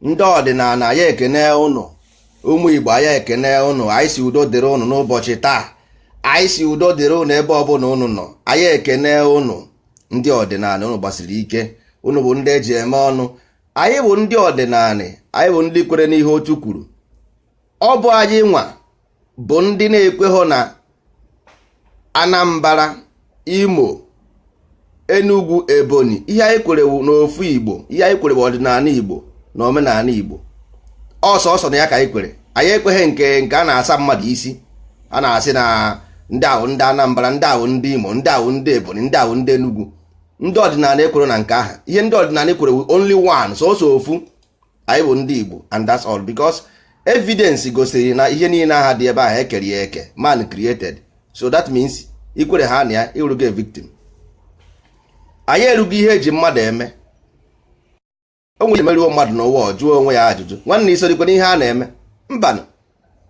ndị ọdịnala anyị ekene ụnụ ụmụ igbo anyị ekene ụnụ anyị si udo dịrị ụnụ n'ụbọchị taa anyị si udo dịrị ụnụ ebe ọbụla ụnụ nọ anyị ekene ụnụ ndị ọdịnala ụnụ gbasiri ike ụnụ bụ ndị eji eme ọnụ anyị bụ ndị ọdịnala anyị bụ ndị kwere n'ihe otu kwuru ọ bụ anyị nwa bụ ndị na-ekweghọ na Anambra Imo Enugu Ebonyi ihe anyị kwere wụ n'ofu Igbo ihe anyị kwere wụ ọdịnala Igbo na omenala Igbo ọ sọsọ na ya ka anyị kwere anyị ekweghị nke nke a na-asa mmadụ isi a na-asị na ndị a wụ ndị Anambra ndị a wụ ndị Imo ndị a wụ ndị Ebonyi ndị a wụ ndị Enugu ndị ọdịnala ekwerọ na nke ahụ ihe ndị ọdịnala kwere only one sọsọ ofu anyị bụ ndị Igbo and that's all because evidence gosiri na ihe niile ahụ dị ebe ahụ ekere ya eke man created so that means ikwere ha na ya ịrụgo victim anyị erugo ihe eji mmadụ eme onwe emeruo mmadụ n'ụwa ọ jụọ onwe ya ajụjụ nwanne isokwa n'ihe a na-eme mbanụ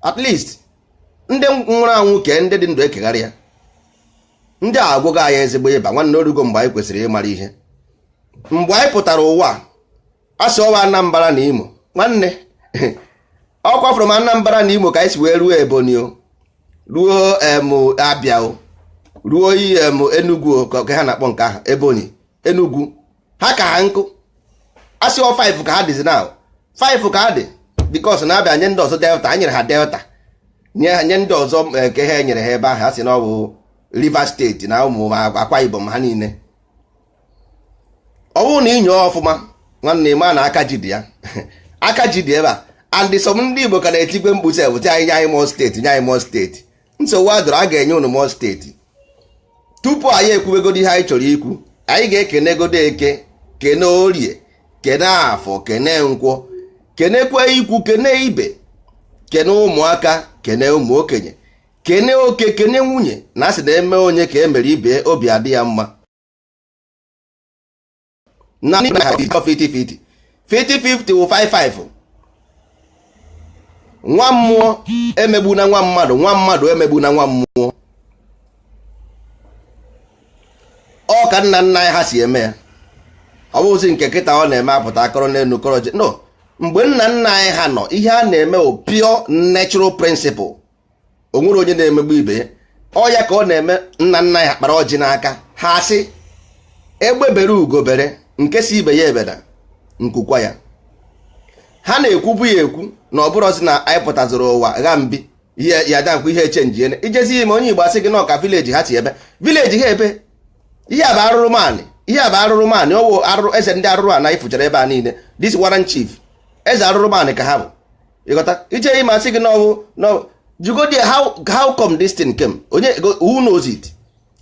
at least ndị nwụrụ anwụ kee ndị dị ndụ ekegharịa ndị a agwọgo anyị ezigbo ịba nwanne orugo mgbe anyị kwesịrị ịmara ihe mgbe anyị pụtara ụwa asị ọ wụ Anambra na Imo nwanne ọkwa from Anambra na Imo ka anyị si wee ruo Ebonyi o ruo em Abia o ruo em Enugu o ka ka ha na-akpọ nke ahụ Ebonyi Enugu ha ka ha nkụ asị ọ 5 ka ha dịzi now 5 ka ha dị because na abịa nye ndị ọzọ delta a nyere ha delta nye ha- nye ndị ọzọ eh, nke ha enyere ha ebe ahụ a sị na ọ bụ Rivers steeti na ụmụ Akwa Ibom ha niile ọ bụrụ na inyoo ọfụma nwanne ịma na aka ji dị ya aka ji dị ebe a and some ndị Igbo ka na-etikwe mkpu sị ebute anyị nye anyị more steeti nye anyị more steeti nsogbu adọrọ a ga-enye unu more steeti tupu anyị ekwubegodi ihe anyị chọrọ ikwu anyị ga-ekenegodo eke kene orie kene afọ kene nkwọ kenekwe ikwu kene ibe kene ụmụaka kene ụmụ okenye kene oke kene nwunye na asị na emee onye ka emere ibe obi adị ya mma na ndị na 50 50 50 50 50 wụ 55 nwa mmụọ emegbuna nwa mmadụ nwa mmadụ emegbuna nwa mmụọ ọ ka nna nna anyị ha si eme ya ọ bụzi nke kịta ọ na-eme apụta akọrọ n'elu kọrọ ji no mgbe nna nna anyị ha nọ ihe a na-eme ọ pure natural principle o nwere onye na-emegbu ibe ya ọ ya ka ọ na-eme nna nna anyị ha kpara ọjị n'aka ha asị egbe bere ugo bere nke sị ibe ya ebena nku kwaa ya ha na-ekwubu ya ekwu na ọ bụrụzi na anyị pụtaziri ụwa gha mbi ihe ya dakwa ihe echenji ene i jezi ime onye igbo asị gị na ọ ka village ha si eme village ha ebe ihe a bụ arụrụ manị ihe a bụ arụrụ manị ọ wụ arụrụ eze ndị arụrụ ana ị fụchara ebe a niile this warrant chief eze arụrụ manị ka ha bụ ị ghọta i je ime asị gị no no jụgodi how how come this thing came onye who knows it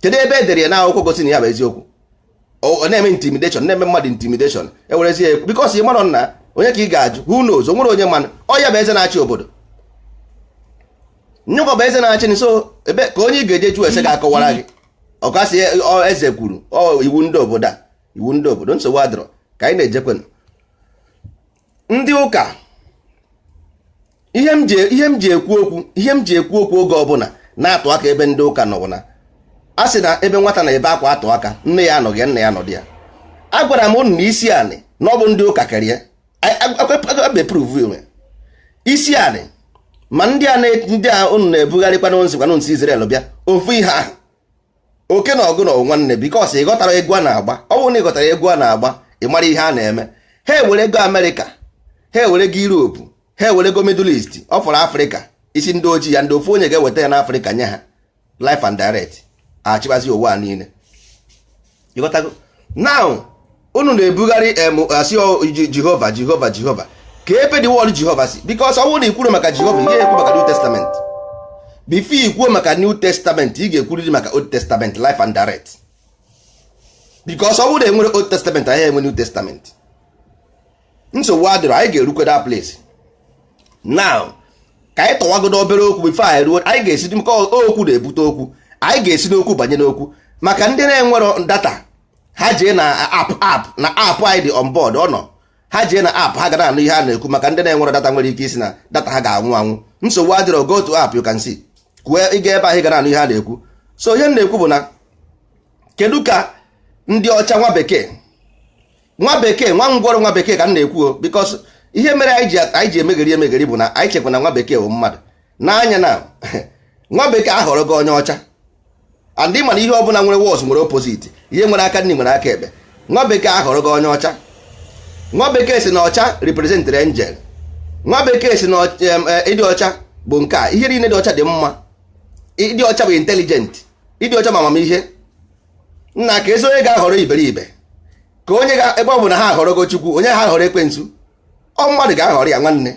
kedu ebe edere ya n'akwụkwọ gosi na ya bụ eziokwu ọ na-eme intimidation na-eme mmadụ intimidation ewerezi ya ekwu because ị marọ na onye ka ị ga-ajụ who knows o nwere onye manụ ọ ya bụ eze na-achị obodo nyụkọ bụ eze na-achị so ebe ka onye ị ga-eje jụ ese ga-akọwara gị ọ ga-asị eze kwuru ọ iwu ndị obodo a iwu ndị obodo nsogbu adịrọ ka anyị na-ejekwenụ ndị ụka ihe m ji ihe m ji ekwu okwu ihe m ji ekwu okwu oge ọbụla na-atụ aka ebe ndị ụka nọ bụ na a sị na ebe nwata na-ebe akwa atụ aka nne ya anọghị ya nna ya anọdị ya agwara m unu na isi anị na ọ bụ ndị ụka kere ya beprove onwe isi anị ma ndị a na- ndị a unu na-ebugharịkwa na unu sikwanụ nsi Israel bịa ofu ihe ahụ oke na ogini wụ nwanne because ị ghọtara egwu a na-agba ọ bụrụ na ị ghọtara egwu a na-agba ị mara ihe a na-eme ha ewerego amerịka ha ewerego europe ha ewerego middle east ọ fọrọ afrịka isi ndị ojii ya ndị ofu onye ga-eweta ya n'afrịka nye ha live and direct achịbazi ụwa niile ị ghọtago now unu na-ebugharị em asị ọ- Ji- jehova jehova jehova ka ebe the word jehova si because ọ bụrụ na i kwuru maka jehova ị gaghị ekwu maka new testament before i kwuo maka new testament ị ga-ekwuriri maka old testament live and direct because ọ bụrụ na enwere old testament anyị enwe new testament nsogbu adịrọ anyị ga-erukwe that place now ka anyị tọwagodo obere okwu before anyị ruo anyị ga-esi dị maka okwu na-ebute okwu anyị ga-esi n'okwu banye n'okwu maka ndị na-enwero data ha jee na app app na app anyị dị on board ọ nọ ha jee na app ha ga na-anụ ihe a na-ekwu maka ndị na-enwero data nwere ike ịsị na data ha ga-agwụ agwụ nsogbu adịrọ go to app you can see kwue ị gaa ebe ahụ ị ga na-anụ ihe a na-ekwu so ihe m na-ekwu bụ na kedu ka ndị ọcha nwa bekee nwa bekee nwa ngwọrọ nwa bekee ka m na-ekwu because ihe mere anyị ji anyị ji emegheri emegheri bụ na anyị chekwa na nwa bekee bụ mmadụ n'anya na nwa bekee ahọrọ gị onye ọcha and ị ma na ihe ọ bụla nwere wọs nwere opposite ihe nwere aka nri nwere aka ekpe nwa bekee ahọrọ gị onye ọcha nwa bekee sị na ọcha representịrị angel nwa bekee sị na ịdị ọcha bụ nke a ihe niile dị ọcha dị mma ịdị ọcha bụ intelligent ịdị ọcha ma amamihe nna keezi onye ga-ahọrọ iberibe ka onye ga ebe ọ bụ na ha ahọrọgo chukwu onye ga ahọrọ ekwensu ọ mmadụ ga-ahọrọ ya nwanne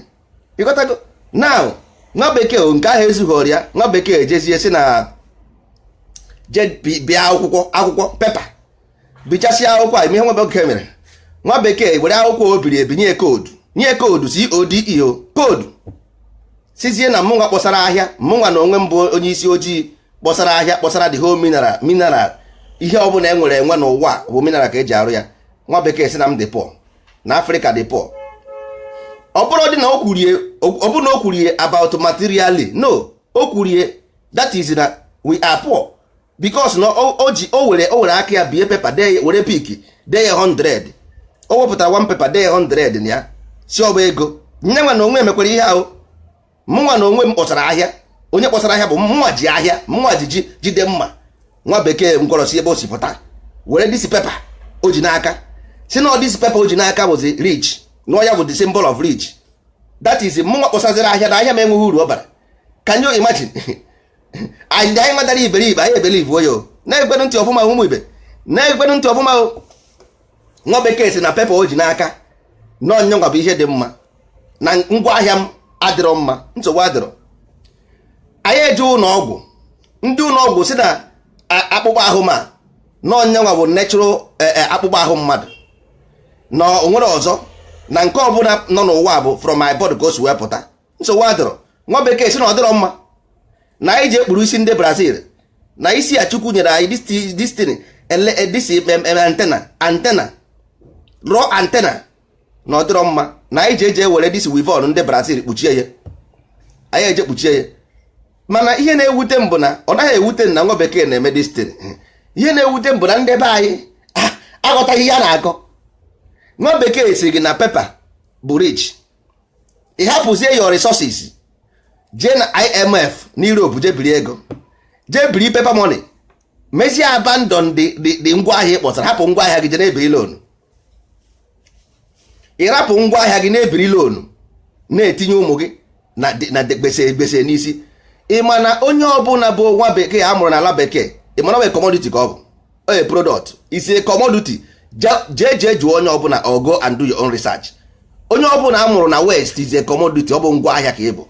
ịghọtago now nwa bekee o, nke ahụ ezughiri ya nwa bekee ejezie si na je bi- bie akwụkwọ akwụkwọ pepa bichasịa akwụkwọ a ị ma ihe nwa bekee mere nwa bekee were akwụkwọ o biri ebi nye koodu nye koodu c o d e koodu sizie na mụnwa kpọsara ahịa mụnwa na onwe m bụ onye isi ojii kpọsara ahịa kpọsara the whole mineral mineral ihe ọ bụla e nwere enwe n'ụwa bụ mineral ka eji arụ ya nwa bekee si na m dị poor na afrịka dị poor ọ bụrọdị na o kwurie ọ bụrọ na o kwurie about materially no o kwurie that is na we are poor because na o ji o were o were aka ya bie pepa dee were bic dee ya 100 o wepụtara one pepa dee ya 100 na ya si ọ bụ ego nyanwa na onwe ya mekwara ihe ahụ mụnwa na onwe m kpọsara ahịa onye kpọsara ahịa bụ mụnwa ji ahịa mụnwa ji ji ihe dị mma nwa bekee ngwọrọ si ebe o si pụta were disi pepa o ji n'aka si na disi pepa o ji n'aka bụzi rich na ọ ya bụ the symbol of rich that is mụnwa kpọsaziri ahịa na ahịa m enweghị uru ọ bara can you imagine anyị anyị adara iberibe anyị ebelieveuo ya na-egenu ntị ọfụma ụmụ ibe na-egenu ntị ọfụma o nwa bekee si na pepa o ji n'aka na ọ nyanwa bụ ihe dị mma na ngwa ahịa m adịrọ mma nsogbu adịrọ anyị eje ụlọ ọgwụ ndị ụlọ ọgwụ si na akpụkpọ ahụ m a na ọ nyanwa bụ natural e, e, akpụkpọ ahụ mmadụ na o nwerọ ọzọ na nke ọbụla nọ n'ụwa bụ from my body ka o si wee pụta nsogbu adịrọ nwa bekee si na ọ dịrọ mma na anyị jee kpuru isi ndị brazil na isi a chukwu nyere anyị this thing this antenna antenna raw antenna na ọ dịrọ mma na anyị ji eje were this weavon ndị brazil kpuchie ya anyị eje kpuchie ya mana ihe na-ewute m bụ na ọ naghị ewute na nwa bekee na-eme this thing ihe na-ewute m bụ na ndị be anyị aghọtaghị ihe a na-akọ nwa bekee si gị na pepa bụ rich ị hapụzie your resources jee na IMF na Europe jee biri ego jee biri paper money mezie abandon the ngwa ahịa ị kpọsara hapụ ngwa ahịa gị jee na-ebiri loan ị rapụ ngwa ahịa gị na-ebiri loan na-etinye ụmụ gị na gbese gbese n'isi ị ma na onye ọbụla bụ nwa bekee a mụrụ n'ala bekee ị ma na ọ bụ commodity ka ọ bụ a product is a commodity jee jee jụọ onye ọbụla or go and do your own research onye ọbụla a mụrụ na west is a commodity ọ bụ ngwa ahịa ka ị bụ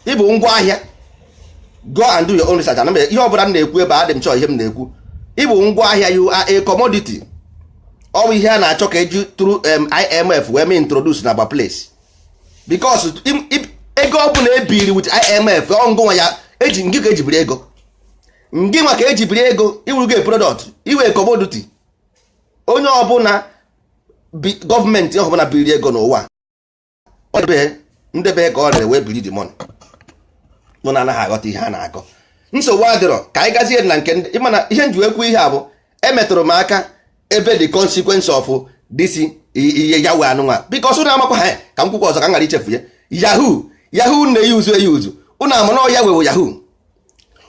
ị bụ ngwa ahịa go and do your own research na ihe ọbụla m na-ekwu ebe adị m chọọ ihe m na-ekwu ị bụ ngwa ahịa you are a commodity ọ bụ ihe a na-achọ ka eji through um, IMF wee mee introduce na ba place because ego ọbụla ebiri with IMF ọ ngịnwa ka eji ngị ka eji biri ego ngị nwa ka e ji biri ego ị wụrụgo product ị wụ commodity onye ọbụla gọọmenti ọbụla biri ego n'ụwa ndị be ya ka o rere wee biri the money ụnụ anaghị aghọta ihe a na-akọ nsogbu adịrọ ka anyị gazie na nke ndị ị ma na ihe m ji ekwu ihe a bụ e metụrụ m aka ebe the consequence of this Yahweh a nụnwa because ụnụ amakwa ha ka m kwukwa ọzọ ka m ghara ichefu ya yahoo yahoo na-eyuzu eyuzu ụnụ ama na ọ Yahweh wụ yahoo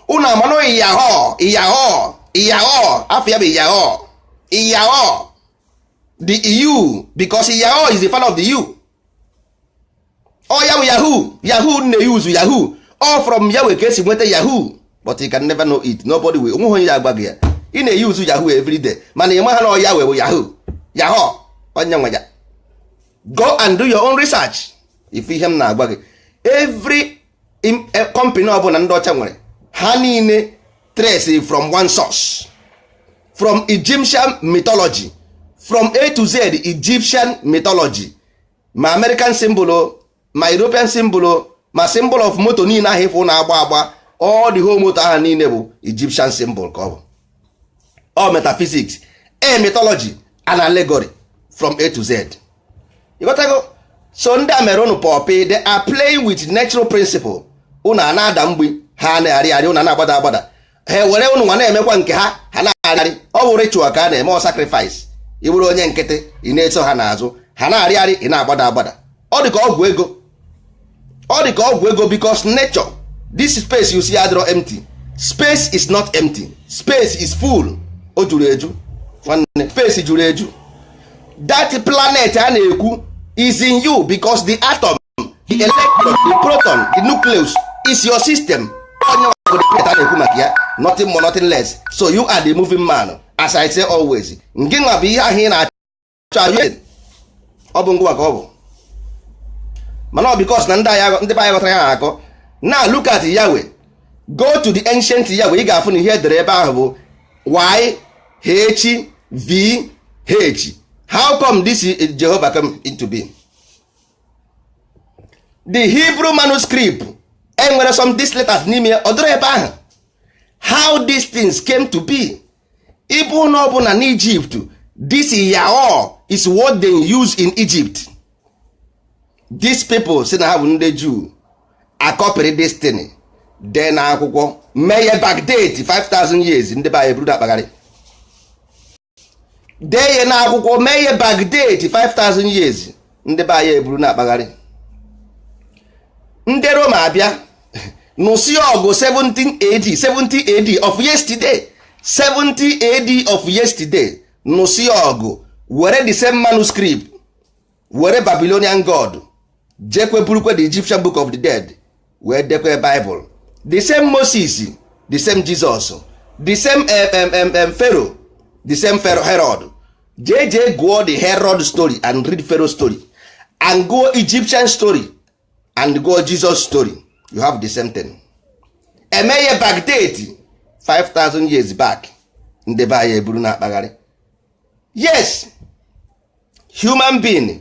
ụnụ ama na ọ iyahoo iyahoo iyahoo afa ya bụ iyao iyao the eu because iyao is the father of the eu ọ ya bụ yahoo yahoo na-eyuzu yahoo ọ from Yahweh ka e si nweta yahoo but you can never know it nobody will o nweghị onye ya-agwa gị ya ị na-eyuzu yahoo every day mana ị maha na ọ Yahweh bụ yahoo yahoo onye nwe ya go and do your own research ị fụ ihe m na-agwa gị every company ọbụla ndị ọcha nwere ha niile trace from one source from Egyptian mythology from A to Z Egyptian mythology ma American symbol o ma European symbol o ma symbol of moto niile ahụ ị fụ na-agba agba all the whole moto ahụ niile bụ Egyptian symbol ka ọ bụ ọ metaphysics and mythology and allegory from a to z ị ghọtago so ndị a mere ụnụ puppy they are playing with natural principle ụnụ a na-ada mgbe ha na-arị arị ụnụ na-agbada agbada ha were ụnụ nwa na-emekwa nke ha ha na-arị ọ bụ ritual ka a na-eme ọ sacrifice ị bụrụ onye nkịtị ị na-eso ha n'azụ ha na-arị arị ị na-agbada agbada ọ dị ka ọgwụ ego ọ dị ka ọgwụ ego because nature this space you see adịrọ empty space is not empty space is full o juru eju nwanne space juru eju that planet a na-ekwu is in you because the atom the electron the proton the nucleus is your system ọ ya bụ the planet a na-ekwu maka ya nothing more nothing less so you are the moving man as i say always ngị nwa bụ ihe ahụ ị na ọ bụ ngị nwa ka ọ bụ mana ọ because na ndị be anyị aghọtarọ ihe a na-akọ now look at Yahweh go to the ancient Yahweh ị ga-afụ na ihe e dere ebe ahụ bụ y h v h how come this Jehovah come into being the Hebrew manuscript enwerọ some these letters n'ime ọ dịrọ ebe ahụ how these things came to be ị bịa n'ụlọ ọbụla na Egypt this Yao is what they use in Egypt these people sị na ha bụ ndị Jew akọpịrị this thing dee na akwụkwọ mee ya backdate 5000 years ndị be anyị buru akpagharị dee ya na akwụkwọ mee ya backdate 5000 years ndị be anyị eburu na-akpagharị ndị Roma abịa nụsị ọgụ 70 AD 70 AD of yesterday 70 AD of yesterday nụsị ọgụ were the same manuscript were Babylonian God jekwe burukwe the Egyptian Book of the Dead wee dekwe bible the same moses the same jesus the same mm pharaoh the same pharaoh herod jee jee gụọ the herod story and read pharaoh story and gụọ egyptian story and gụọ jesus story you have the same thing e mee ya backdate 5000 years back ndị be anyị eburu na-akpagharị yes human being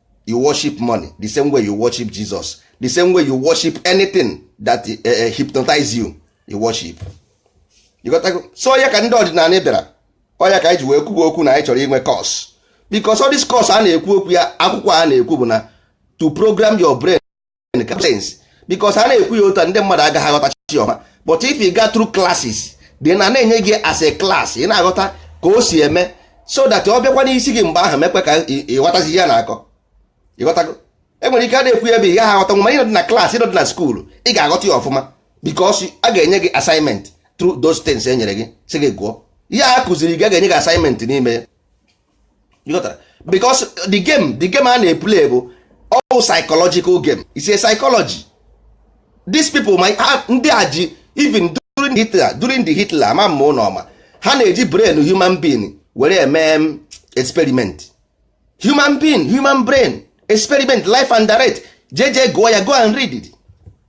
you worship money the same way you worship Jesus the same way you worship anything that uh, uh, hypnotize you you worship ịghọtago so ọ ya ka ndị ọdịnala bịara ọ ya ka anyị ji wee kwuba okwu na anyị chọrọ inwe course because all this course a na-ekwu okwu ya akwụkwọ a na-ekwu bụ na to program your brain explain ka sense because a na-ekwu ya otu a ndị mmadụ agaghị aghọtacha ya ọma but if you go through classes then a na-enye gị as a class ị na-aghọta ka o si eme so that ọ bịakwa n'isi gị mgbe ahụ mekwe ka ị- ịghọtazi ihe a na-akọ ịghọtago e nwere ike a na-ekwu ya ebe ị gaghị aghọta ma ị nọdị na class ị nọdị na school ị ga-aghọta ya ọfụma because a ga-enye gị assignment through those things e nyere gị sị gị gụọ ihe a kụziri gị a ga-enye gị assignment n'ime ya because the game the game a na-eplay bụ all psychological game is a psychology these people my ndị a ji even during Hitler during the Hitler ama mma ụlọ ọma ha na-eji brain human being were eme um, experiment human being human brain experiment life and direct jee jee gụọ ya go and read it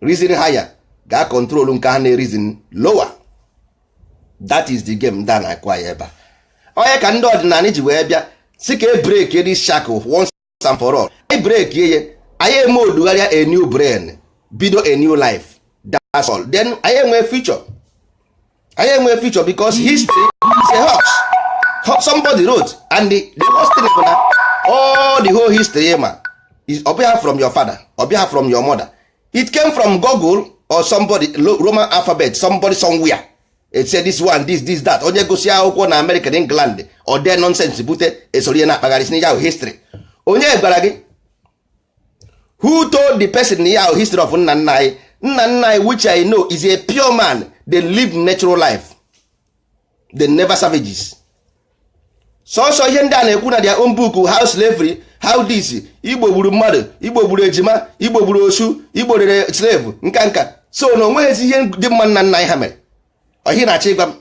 reason higher ga-acontrol nke ha na-ereason lower that is the game ndị a na-akụ anyị ebe a ọ ya ka ndị ọdịnala ji wee bịa sị ka e break this shackle once and for all anyị break ye anyị eme odugharịa a new brain bido a new life that's all then anyị enwee future anyị enwe future because history is a hoax somebody wrote and the, the worst thing bụ na all the whole history ma is ọ bịa from your father ọ bịa from your mother it came from Google or somebody Roman alphabet somebody somewhere it said this one this this that onye gụsịa akwụkwọ na America na England ọ dee nonsense bute e soro ya na-akpagharị sị n'ija history onye gwara gị who told the person na ya bụ history of nna nna anyị nna nna anyị which i know is a pure man they live natural life they never savages sọsọ ihe ndị a na-ekwu na their own book how slavery how this igbo gburu mmadụ igbo gburu ejima igbo gburu osu igbo rere slave nka nka so na onweghịzi ihe dị mma nna nna anyị ha mere ọ ihe ị na-achọ ịgwa m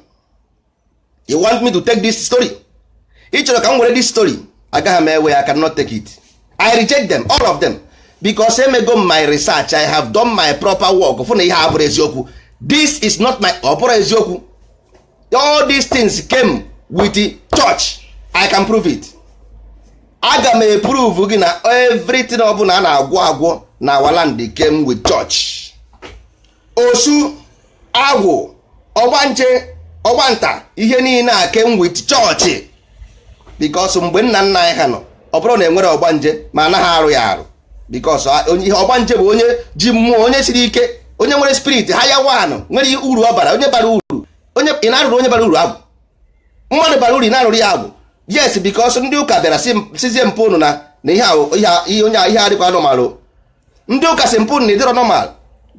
you want me to take this story ị chọrọ ka m were this story agaghị m ewe i cannot take it i reject them all of them because emego m my research i have done my proper work fụ na ihe a abụrọ eziokwu this is not my ọ bụrọ eziokwu all these things came with the church i can prove it aga m eprove gị na everything ọbụla a na-agwọ agwọ na our land came with church osu agwụ ọgbanje ọgbanta ihe niile a came with church because mgbe nna nna anyị ha nọ ọ bụrụ na enwere ọgbanje ma anaghị arụ ya arụ because ihe ọgbanje bụ onye ji mmụọ onye siri ike onye nwere spirit higher one nwere uru ọ bara onye bara uru onye ị na-arụrụ onye bara uru agwụ mmadụ bara uru ị na-arụrụ ya agwụ yes because ndị ụka bịara sịzie mpụ ụnụ na na ihe onye ihe adịkwa normal ndị ụka sị mpụ na ị dịrọ normal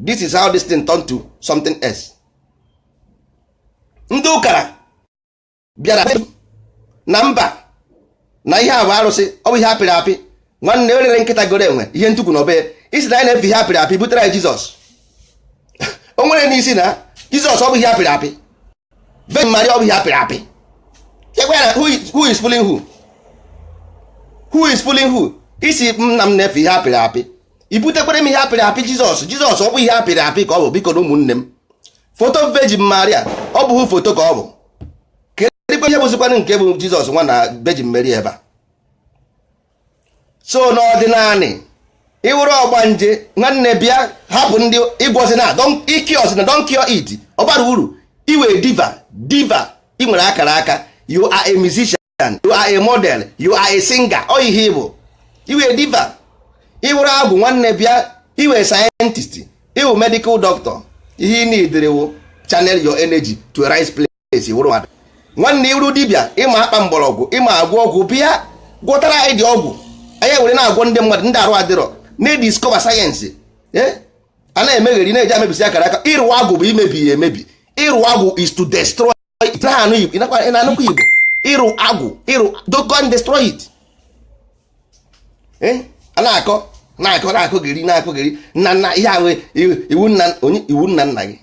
this is how this thing turn to something else ndị ụka bịara na mba na ihe a bụ arụsị ọ bụ ihe apịrị apị nwanne o rere nkịta goro enwe ihe ntukwu nọ be ya ị sị na anyị na-efe ihe apịrị apị butere anyị jizọs o nwere n'isi na jizọs ọ bụ ihe apịrị apị Virgin Maria ọ bụ ihe apịrị apị ekwe na who is fooling who who is fooling who ị sị m na m na-efe ihe apịrị apị i butekwara m ihe apịrị apị Jizọs Jizọs ọ bụghị ihe apịrị apị ka ọ bụ bikonụ ụmụnne m foto Virgin Maria ọ bụghị foto ka ọ bụ kedụ ihe bụzikwanụ nke bụ Jizọs nwa na Virgin Mary ebe a so n'ọdịnanị ị wụrụ ọgbanje nwanne bịa hapụ ndị ị gwọzina ị curezina don't cure it ọ bara uru ị wụ a diva diva ị nwere akara aka you are a musician you are a model you are a singer ọ ihe ị bụ ị wụ a diva ị wụrụ agwụ nwanne bịa ị wụ a scientist ị wụ medical doctor ihe ị needịrị wụ channel your energy to a right place esi wụrụ mmadụ nwanne ị wụrụ dibịa ị ma akpa mgbọrọgwụ ị ma agwọ ọgwụ bịa gwọtara anyị ụdị ọgwụ anyị were na-agwọ ndị mmadụ ndị arụ adịrọ na-ediscover science eh? a na-emegheri na-eje emebisi akara aka ịrụ agwụ bụ imebi ya emebi ịrụ agwụ is to destroy ị na-anụkwa igbo ịrụ agwụ ịrụ to go and destroy it eh? a na-akọ na-akọ na-akọgheri na-akọgheri nna nna ihe ahụ iwu nna onye iwu nna nna gị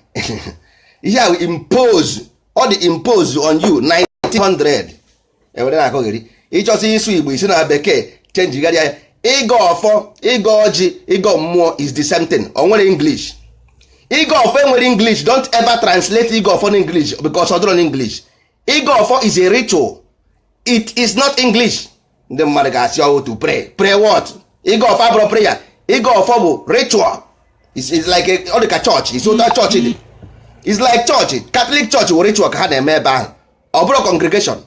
ihe ahụ impose ọ dị impose on you 1900 e were na-akọgheri ịchọsị ịsụ igbo i si na bekee chenjigharịa ya ịgọ ọfọ ịgọ ọjị ịgọ mmụọ is the same thing o nwerọ english ịgọ ọfọ enwerọ english don't ever translate ịgọ ọfọ na english because ọ dịrọ na english ịgọ ọfọ is a ritual it is not english ndị mmadụ ga-asị ọ wụ to pray pray what ịgọ ọfọ abụrọ prayer ịgọ ọfọ bụ ritual it's like ọ dị ka chọọchị it's otu chọọchị dị it's like chọọchị katọlik chọọchị wụ ritual ka ha na-eme ebe ahụ ọ bụrọ congregation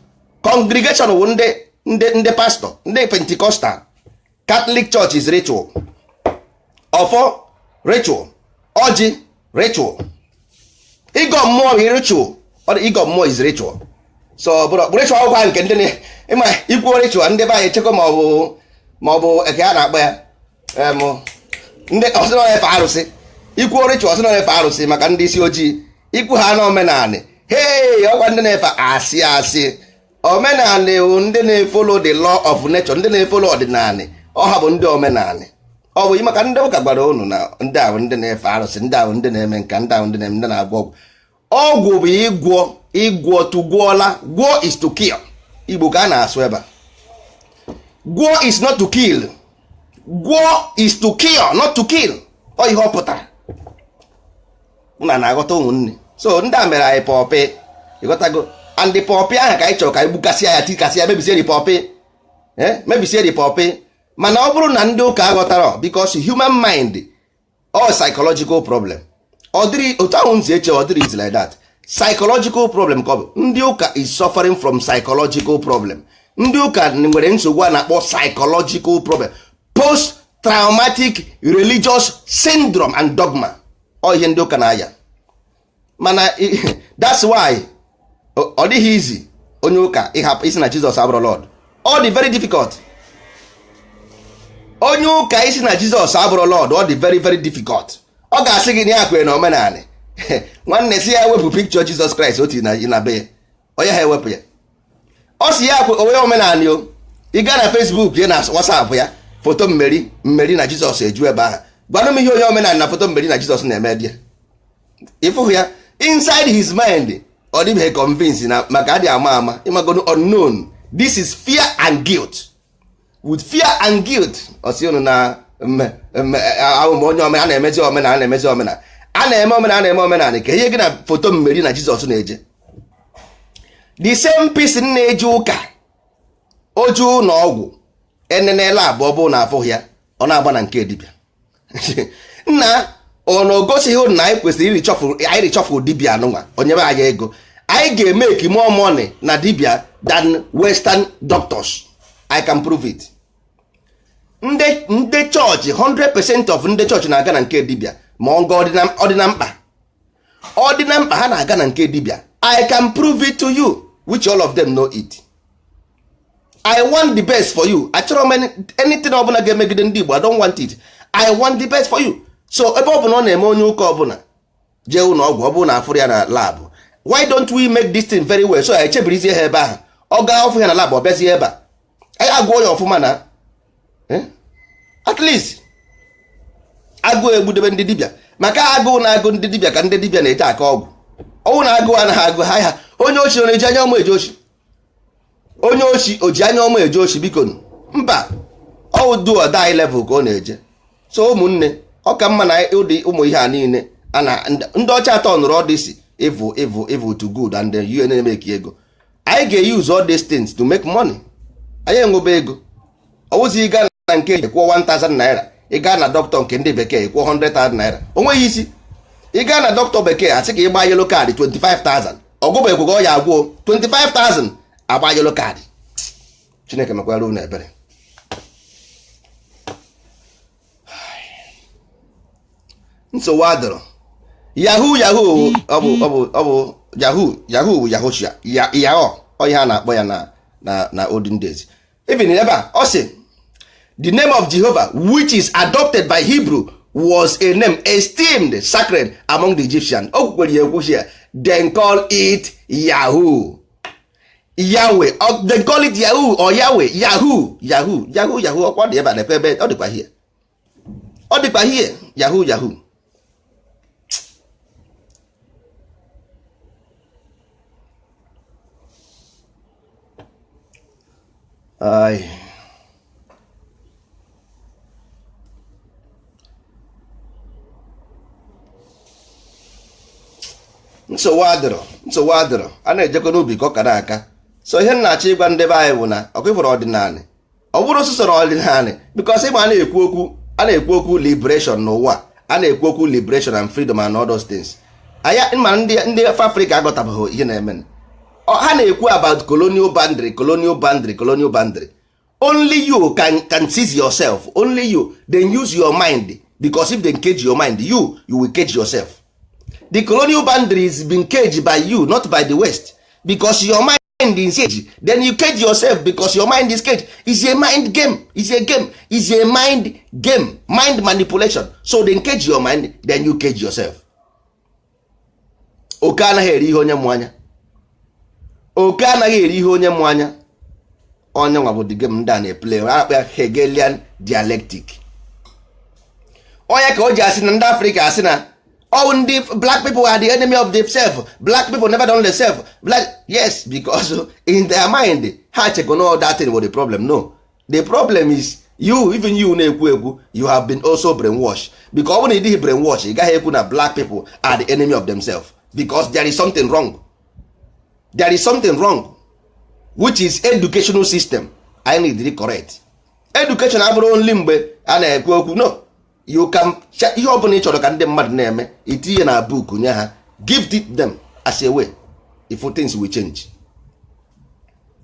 congregation wụ ndị ndị ndị pastọ ndị pentikọstal katọlik chọọchị is ritual ọfọ ritual ọjị ritual ịgọ mmụọ bụ ritual ọ dị ịgọ mmụọ is ritual so bụrụ ọkpụ ritual ọkwa nke ndị na- ị ma i kwuo ritual ndị be anyị echekwa ma ọ bụ ma ọ bụ eke a na-akpọ ya em, ndị ọ sị na ọ na-efe arụsị i kwuo ritual ọ sị na ọ na-efe arụsị maka ndị isi ojii i kwu ha na omenanị hei ọkwa ndị na-efe asị asị omenala bụ ndị na-efolo the law of nature ndị na-efolo ọdịnala ọ ha bụ ndị omenala ọ bụ maka ndị ụka gwara unu na ndị ahụ ndị na-efe arụsị ndị ahụ ndị na-eme nka ndị ahụ ndị na-eme ndị na-agwọ ọgwụ ọgwụ bụ ịgwọ ịgwọ to gwọ ọya gwọ is to cure igbo ka a na-asụ ebe a gwọ is not to kill gwọ is to cure not to kill ọ ihe ọ pụtara unu na-aghọta ụmụnne so ndị a mere anyị pọpị ị ghọtago and the pọpị ahụ ka anyị chọrọ ka anyị gbukasịa ya tikasịa mebisie the pọpị eh, mebisie the pọpị mana ọ bụrụ na ndị ụka aghọtarọ because human mind all psychological problem ọ dịrọ otu ahụ unu si eche ọ dịrọ easy like that psychological problem ka ọ bụ ndị ụka is suffering from psychological problem ndị ụka nwere nsogbu a na-akpọ psychological problem post traumatic religious syndrome and dogma ọ ihe ndị ụka na-aya mana that's why ọ dịghị easy onye ụka ịhapụ ịsị na Jizọs abụrọ Lord ọ dị very difficult onye ụka ịsị na Jizọs abụrọ Lord ọ dị very very difficult ọ ga-asị gị na ya kwere na omenala nwanne sị ya wepụ pikchọ Jizọs Kraịst o tii na be ọ yaha ewepụ ya ọ sị ya kwere na omenala o ị gaa na Facebook ya na WhatsApp ya foto Mary na Jizọs eju ebe ahụ gwanụ m ihe onye omenala na foto Mary na Jizọs na-eme there ị fụhụ ya inside his mind ọ dịbeghị convince na maka adị ama ama ị magonụ unknown this is fear and guilt with fear and guilt ọ sị unu na ahụ m onye omenala na-emezi omenala na-emezi omenala a na-eme omenala na-eme omenala kee ihe gị na foto Mary na jizọs na-eje the same person na-eje ụka oju na ọgwụ enenela abụọ bụ na afụghị ya ọ na-agba na nke dibịa nna ọ na o gosighị unu na anyị kwesịrị irichọfụ anyị richọfụ dibia anụnwa onye be anyị ego anyị ga-emeki more money na dibia than western doctors i can prove it ndị ndị chọọchị 100% of ndị chọọchị na-aga na nke dibia ma ọ ga ọ dị na mkpa ọ dị na mkpa ha na-aga na nke dibia i can prove it to you which all of them know it. i want the best for you achọrọ m anything ọbụla ga-emegide ndị Igbo i don't want it i want the best for you so ebe ọ bụla ọ na-eme onye ụka ọbụla jee ụlọ ọgwụ ọ bụrụ na afụrụ ya na lab why don't we make this thing very well so ya echebirizie ha ebe ahụ ọ gaa ọ fụ ya na lab ọ bịazie ebe a anyị agụọ ya ọfụma na eh? at least agụụ egbudebe ndị dibịa maka agụụ na-agụ ndị dibịa ka ndị dibịa na-eji akọ ọgwụ ọ wụ na agụụ anaghị agụ ha ha onye oshi ọ na-eji anya ọma eje oshi onye oshi o ji anya ọma eje oshi biko mba ọ wụ do or die level ka ọ na-eje so ụmụnne ọ ka mma na ụdị ụmụ ihe a niile ana ndị ọcha a turnụrụ all this evil evil evil to good and then you na-emake ego anyị ga-use all these things to make money anyị enwebe ego ọ wụzi ị ga na nke eji kwụọ 1000 naira ị gaa na dọkịta nke ndị bekee kwụọ 100,000 naira o nweghị isi ị gaa na dọkịta bekee a sị ka ị gbaa yellow card 25,000 ọ gwọbekweghị ọya akwụọ 25,000 agba yellow card chineke mekwara unu ebere nsogbu adịrọ yahoo yahoo ọ bụ ọ bụ ọ bụ yahoo yahoo bụ yahoshua yahoo ọ ihe a na-akpọ ya na na na olden days even ebe a ọ sị the name of Jehovah which is adopted by Hebrew was a name esteemed sacred among the Egyptians o kwukwere ya ekwu here then call it Yahoo Yahweh they call it Yahoo or Yahweh Yahoo Yahoo Yahoo Yahoo ọkwa dị ebe a lekwe ebe ọ dịkwa here ọ dịkwa here yahoo yahoo Ay. nsogbu adịrọ nsogbu adịrọ a na-ejekọ n'ubi ka ọ kara aka so ihe m na-achọ ịgwa ndị be anyị bụ na ọkwa ị fụrụ ọdịnala ọ bụrọ sọsọ ọdịnala because ị ma a na-ekwu okwu a na-ekwu okwu liberation n'ụwa a na-ekwu okwu liberation and freedom and all those things anya ma ndị ndị afrịka aghọtabeghị ihe na-eme ha na-ekwu about colonial boundary colonial boundary colonial boundary only you can, can seize yourself only you then use your mind because if they cage your mind you you will cage yourself the colonial boundary is being caged by you not by the west because your mind mind is caged then you cage yourself because your mind is caged it's a mind game it's a game it's a mind game mind manipulation so they cage your mind then you cage yourself oke anaghị eri ihe onye mụ anya oke anaghị eri ihe onye mụ anya ọ ya nwa bụ the game ndị a na-eplay a kpọ ya hegelian dialectic ọ ya ka o ji asị na ndị afrịka asị na all ndị black people are the enemy of themselves black people never don themselves black yes because in their mind ha chekwa na that thing was the problem no the problem is you even you na-ekwu ekwu you have been also brainwashed because ọ bụrụ na ị dịghị brainwash ị gaghị ekwu na black people are the enemy of themselves because there is something wrong there is something wrong which is educational system anyị need correct education abụrọ only mgbe a na-ekwu okwu no you can ihe ọ bụla ị chọrọ ka ndị mmadụ na-eme i tinye na book nye ha give it them I swear if things will change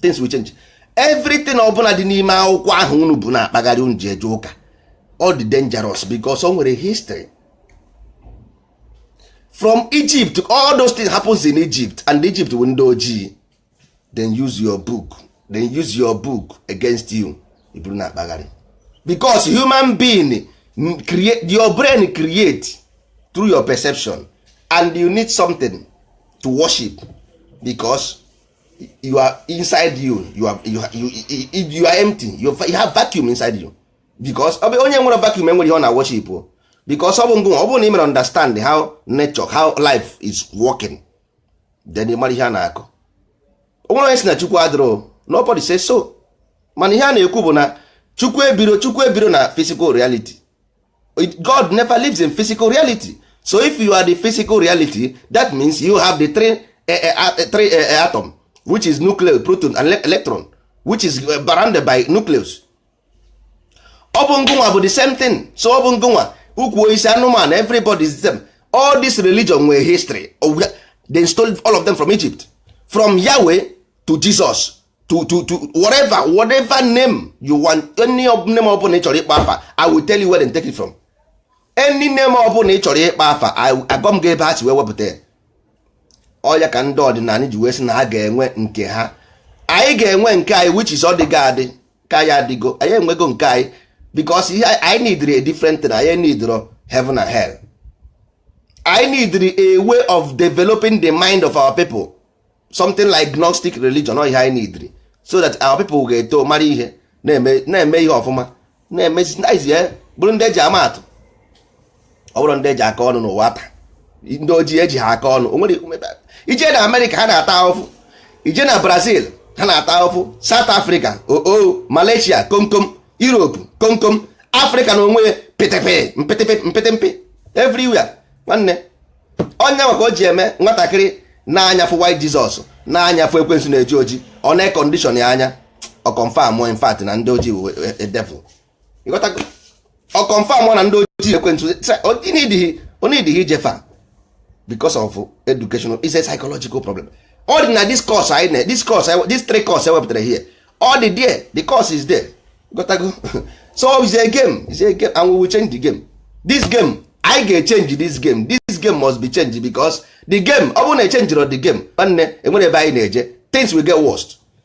things will change everything ọ bụla dị n'ime akwụkwọ ahụ unu bu na-akpagharị unu ji eje ụka ọ dị dangerous because o nwere history from Egypt all those things happens in Egypt and Egypt bụ ndị ojii then use your book then use your book against you i buru na-akpagharị because human being create your brain create through your perception and you need something to worship because you are inside you you are, you, you, you, you are empty you, you have vacuum inside you because ọ bụ onye nwere vacuum enwere ihe ọ na worship because ọ bụ ngụ ọ bụ na ị mere understand how nature how life is working then ị mara ihe a na-akọ o nwere onye sị na chukwu adịrọ nobody say so mana ihe a na-ekwu bụ na chukwu ebiro chukwu ebiro na physical reality god never lives in physical reality so if you are the physical reality that means you have the three, uh, uh, three uh, atom which is nucleus proton and electron which is surrounded by nucleus ọ bụ ngụnwa bụ the same thing so ọ bụ ngụnwa ukwu osisi anụmanụ everybody is the same all this religion nwere history they stole all of them from Egypt from Yahweh to Jesus to to to whatever whatever name you want any name ọbụla ị chọrọ ịkpọ afa I will tell you where they take it from any name ọbụla ị chọrọ ịkpọ afa agwa m gị ebe ha si wee wepụta ya ọ ya ka ndị ọdịnala ji wee sị na ha ga-enwe nke ha anyị ga-enwe nke anyị which is ọ dịgo adị ka ya adịgo anyị enwego nke anyị because ihe anyị nidiri a different thing anyị nidiro heaven and hell anyị nidiri a way of developing the mind of our people something like gnostic religion ọ ihe anyị nidiri so that our people ga-eto mara ihe na-eme ihe ọfụma na-emezi bụrụ ndị e ji ama atụ ọ bụrọ ndị e ji akọ ọnụ n'ụwa taa ndị ojii e ji ha akọ ọnụ i je na amerịka ha na-ata ahụfụ i je na brazil ha na-ata ahụfụ south africa oo malaysia komkom europe komkom africa na onwe ya pịtịpị mpịtịpị mpịtịmpị everywhere nwanne ọ ya nwa ka o ji eme nwatakịrị nee anya fụ white jesus nee anya fụ ekwensu na-eji oji ọ na-ekondishọn ya anya ọ confirm in fact na ndị ojii e, e, devil ọ confirm na ndị ojii ekwensu onidịghị ijefa because of educational is a psychological problem ọ dị na this course anyị na this course this three course ewepụtara here ọ dị there the course is there ịghọtago so it's a game it's a game and we will change the game this game anyị ga-echenji this game this game must be changed because the game ọ bụrụ na echenjirọ the game nwanne enwere ebe anyị na-eje things will get worst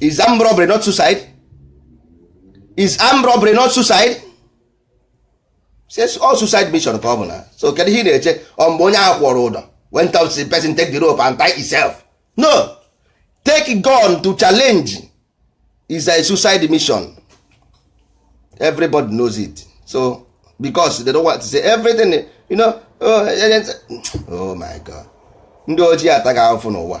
is armed robbery not suicide is armed robbery not suicide ọ suicide mission ka ọ bụ na so kedu ihe ị na-eche ọ mgbe onye ahụ kwụrụ ụdọ went up the person take the rope and tie himself no take gun to challenge is a suicide mission everybody knows it so because they don't want to say everything you know oh, oh my god ndị ojii atago ahụfụ n'ụwa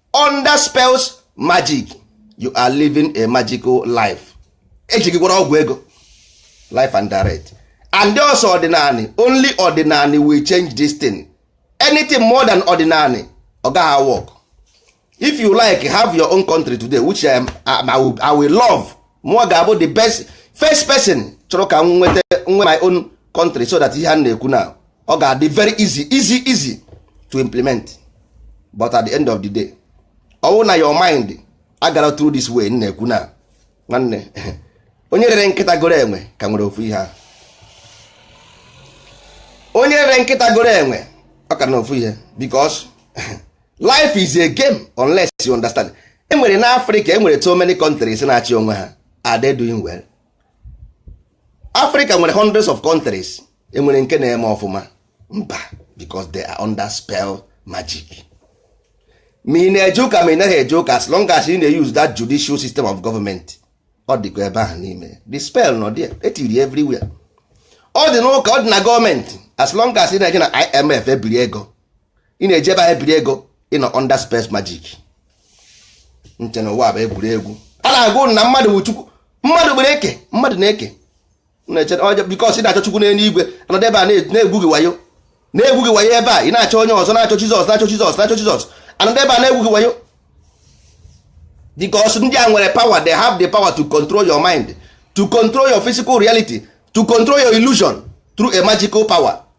under spells magic you are living a magical life eji gị gwọrọ ọgwụ ego live and direct and also ọdịnanị only ọdịnanị will change this thing anything more than ọdịnanị ọ gaghị work if you like have your own country today which I, I, will, I will love mụọ ga-abụ the best first person chọrọ ka m nweta nwe my own country so that ihe a na-ekwu now ọ ga-adị very easy easy easy to implement but at the end of the day ọwụ na your mind agara through this way na-ekwu na nwanne onye rere nkịta goro enwe ka nwere ofu ihe ahụ onye rere nkịta goro enwe ọ ka na ofu ihe because life is a game unless you understand enwere na Africa enwere so many countries na-achị onwe ha are they doing well Africa nwere hundreds of countries enwere nke na-eme ọfụma mba because they are under spell magic ma ị na-eje ụka ma ị naghị eje ụka as long as ị na-use that judicial system of government ọ dịkwa ebe ahụ n'ime the spell nọ there etiri everywhere ọ dị n'ụka ọ dị na gọọmenti as long as ị na-eje na IMF ebiri ego ị na-eje ebe ahụ ebiri ego ị nọ under spell magic nche na ụwa bụ egwuregwu a na-agụ na mmadụ bụ chukwu mmadụ kere eke mmadụ na-eke because ị na-achọ chukwu n'elu igwe anọdụ ebe a na-egwu gị wayo na-egwu gị wayo ebe a ị na-achọ onye ọzọ na-achọ jizọs na-achọ jizọs na-achọ jizọs anọdụ ebe a na-egwu gị wayo because ndị a nwere power they have the power to control your mind to control your physical reality to control your illusion through a magical power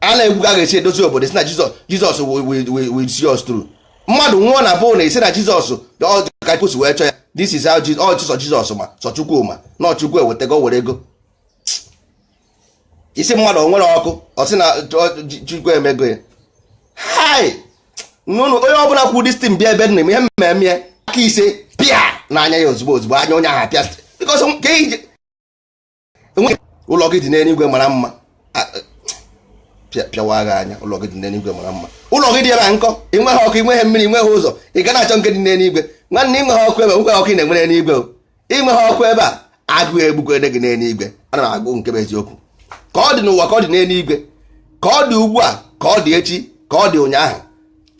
a na-ekwu ka a ga-esi edozi obodo ị sị na jizọs jizọs will see us through mmadụ nwụọ na bụl na ị sị na jizọs ka kwụsị wee chọọ ya this is how ọchịsọ jizọs ma sọ chukwu ma na ọ chukwu ewetago were ego isi mmadụ o nwere ọkụ ọ sị na chukwu emego ya hai nụnụ onye ọbụla kwuo distin bịa ebe nna m ihe mmemme ya aka ise pịa n'anya ya ozugbo ozugbo anya onye ahụ pịa because ka iji enweghị ụlọ gị dị n'eluigwe mara mma pịawa gị anya ụlọ gị dị n'eluigwe mara mma ụlọ gị dị ebe a nkọ i nweghị ọkụ i nweghị mmiri i nweghị ụzọ ị ga na-achọ nke dị n'eluigwe nwanne i nweghị ọkụ ebe a o nweghị ọkụ ị na-enwe n'eluigwe i nweghị ọkụ ebe a agụụ egbugode gị n'eluigwe ana m agwa unu nke bụ eziokwu ka ọ dị n'ụwa ka ọ dị n'eluigwe ka ọ dị ugbu a ka ọ dị echi ka ọ dị ụnyaahụ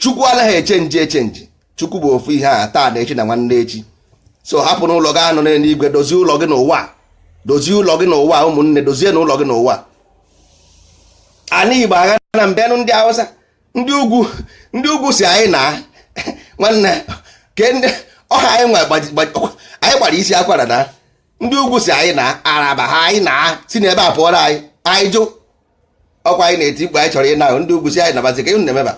chukwu anaghị echenji echenji chukwu bụ ofu ihe taa na echi na nwanne echi so hapụnụ ụlọ ị ga-anọ n'eluigwe dozie ụlọ gị n'ụwa dozie ụlọ gị n'ụwa ụmụnne dozienụ ụlọ gị n'ụwa ana igbo agha na mbenụ ndị awụsa ndị ugwu ndị ugwu sị anyị na nwanne ke ndị ọha anyị nwa gbaji- gbaji- ọkwa- anyị gbara isi akwara na ndị ugwu sị anyị na araba ha anyị naa si n'ebe a pụọrọ anyị anyị jụ ọkwa anyị na-eti mkpu anyị chọrọ ịna ahụ ndị ugwu sị anyị nabazi ka ịhụ na-emeba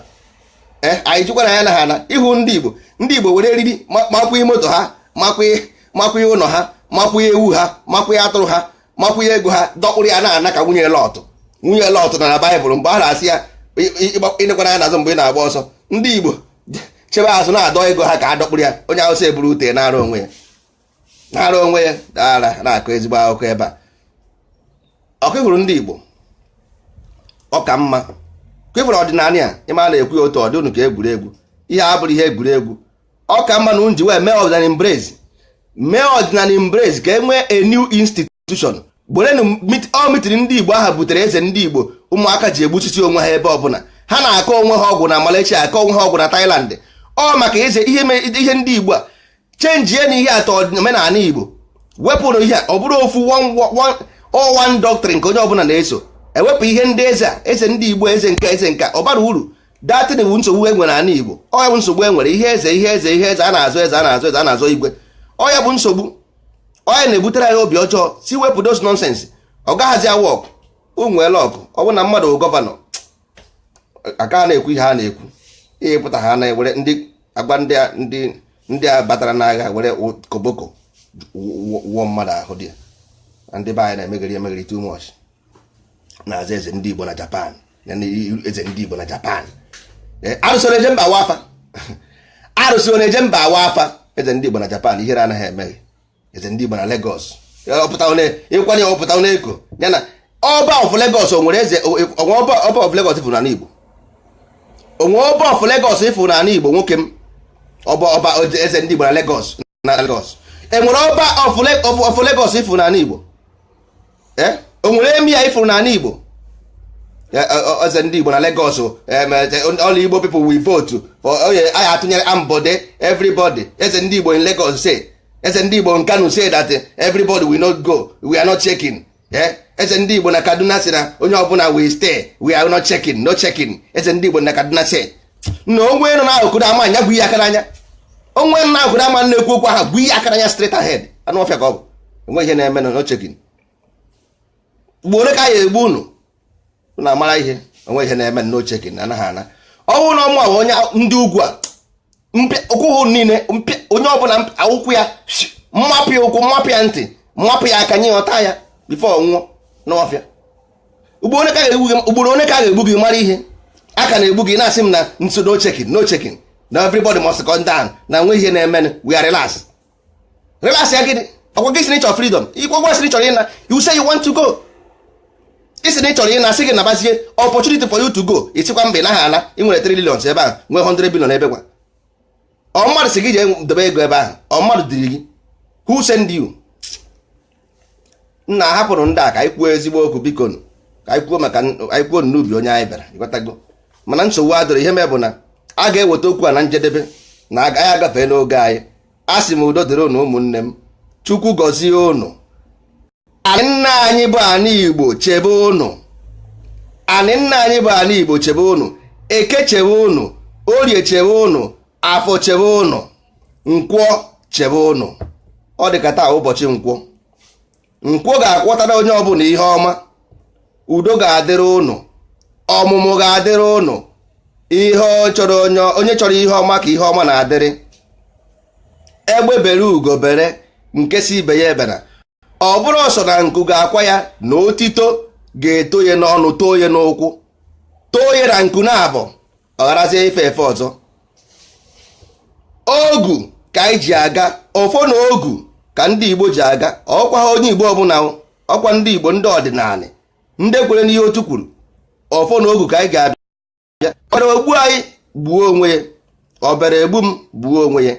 ee anyị jụkwa na ya na ha na ịhụ ndị igbo ndị igbo were eriri ma- makwụnye moto ha makwụnye makwụnye ụlọ ha makwụnye ewu ha makwụnye atụrụ ha makwụnye ego ha dọkpụrụ ya na-ana ka nwunye lọtụ nwunye lọtụ nọ na baịbụl mgbe a na-asị ya enekwana anya n'azụ mgbe ị na-agba ọsọ ndị igbo chebe azụ na-adọ ego ha ka a dọkpụrụ ya onye awụsa eburu ute naara onwe ya naara onwe ya dara na-akọ ezigbo akụkọ ebe a ọkụ hụrụ ndị Igbo ọ ka mma kwefere ọdịnala ya ị ma a na-ekwu ya otu ọ dị unu ka egwuregwu ihe a abụrọ ihe egwuregwu ọ ka mma na unu ji wee mee ọdịnala embrace mee ọdịnala embrace ka e nwee a new institute institution gerenu ọ meeting ndị igbo a ha butere eze ndị igbo ụmụaka ji egbusisi onwe ha ebe ọbụla ha na-akọ onwe ha ọgwụ na Malaysia akọ onwe ha ọgwụ na Thailand ọ maka eze ihe ndị igbo a chenjienụ ihe atọ omenala igbo wepụrụ ihe ọ bụrụ ofu one doctrine nke onye ọbụla na-eso ewepụ ihe ndị eze a eze ndị igbo eze nke a eze nke a ọ barọ uru that thing wu nsogbu e nwere n'ala igbo ọ ya bụ nsogbu e nwere ihe eze ihe eze ihe eze a na-azọ eze a na-azọ eze a na-azọ igwe ọ ya bụ nsogbu ọ ya na-ebutere anyị obi ọjọọ so wepụ those nonsense ọ gaghazi a-work o nweela ọkụ ọ bụ na mmadụ gọvanọ a ka na-ekwu ihe a na-ekwu ihe pụta ha na-ewere ndị agba ndị a batara n'agha were koboko wụọ mmadụ ahụ dị ya ndị be anyị na-emegheri emegheri too much na-aza eze ndị Igbo na Japan eze ndị Igbo na Japan eh, arụsị na-eje mba awa afa arụsị na-eje mba awa afa eze ndị Igbo na Japan ihere anaghị eme gị eze ndị Igbo na Lagos ịkwanye ọpụta onye eko ya na ọba of Lagos o nwere eze o nwere ọba of Lagos ị fụ n'ala Igbo o nwere ọba of Lagos ị fụ n'ala Igbo nwoke m ọba ọba eze ndị Igbo na Lagos na Lagos e nwere ọba of Lagos ị fụrụ n'ala Igbo eh? o nwere Emir ị fụrụ n'ala Igbo eh, eh, eze ndị Igbo na Lagos all Igbo people will vote for oye oh, anyị atụnyere Ambode everybody eze ndị Igbo in Lagos say eze ndị Igbo in Kano say that everybody will not go we are not shaking eh, eze ndị Igbo na Kaduna sị na onye ọbụla will stay we are not shaking no shaking eze ndị Igbo na Kaduna sị na onwe nọ n'akụkụ na ama anya gwu ihe aka n'anya onwe nọ n'akụkụ na ama na-ekwu okwu aha gwu ihe aka n'anya straight ahead anụ ọfịa ka ọ bụ o nweghị ihe na-eme no shaking ugboro ole ka a ya-egbu unu na amara ihe o nweghị ihe na-eme no shaking na anaghị ana ọnwụ na ọmụ ahụ onye ndị ugwu a ụkwụ hụ niile onye ọbụla akwụkwọ ya mmapụ ya ụkwụ mmapụ ya ntị mmapụ ya aka nye ọta ya before ọ nwụọ n'ọfịa ugboro ole ka a ga-egbu gị mara ihe a ka na-egbu gị na-asị m na nso no shaking no shaking na everybody must calm down na o nweghị ihe na-eme we are relax relax ya gịnị ọkwa gị sị na ị chọrọ freedom ọkwa gị sị na ị chọrọ ịna you say you want to go ị sị na ị chọrọ ịna sị gị nabazie opportunity for you to go ị sịkwa mba ị naghị ana ị nwere 3 billion ebe ahụ nwee 100 billion ebe ka ọ mmadụ sị gị jee dobe ego ebe ahụ ọ mmadụ ziri gị who send you nna hapụrụ ndị a ka anyị kwuo ezigbo okwu biko nụ. ka anyị kwuo maka anyị kwuo n'ubi onye anyị bịara ịghọtago mana nsogbu adịrọ ihe m ma bụ na a ga-eweta okwu a na njedebe na agaghị agafe n'oge anyị a sị m udo dịrị unu ụmụnne m Chukwu gọzie unu anị nna anyị bụ anị igbo chebe unu anị nna anyị bụ anị igbo chebe unu eke chebe unu orie chebe unu afọ chebe unu nkwọ chebe ụnụ ọ dị ka taa ụbọchị nkwọ nkwọ ga-akwọtara onye ọbụla ihe ọma udo ga-adịrị ụnụ ọmụmụ ga-adịrị ụnụ ihe chọrọ onye onye chọrọ ihe ọma ka ihe ọma na-adịrị egbe bere ugo bere nke sị ibe ya ebena ọ bụrọ sọ na nku ga-akwa ya na otito ga-eto ya n'ọnụ too ya n'ụkwụ too ya na nku naabọ ọ gharazie ife efe ọzọ ogu ka anyị ji aga ọfọ na ogu ka ndị Igbo ji aga ọkwa onye Igbo ọbụla ọkwa ndị Igbo ndị ọdịnala ndị kwere n'ihe otu kwuru ọfọ na ogu ka anyị ji abịa bịa ọbịara egbu anyị gbuo onwe ya ọbịara egbu m gbuo onwe ya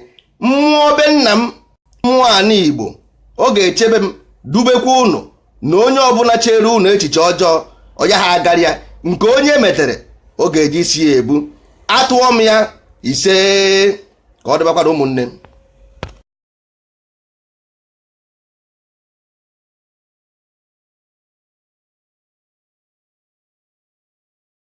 mmụọ be nna m mmụọ anị igbo ọ ga-echebe m dubekwa unu na onye ọbụla chere unu echiche ọjọọ ọ yaha agara ya nke onye metere ọ ga-eji isi ya ebu atụọ m ya ise ka ọ dịbakwara ụmụnne m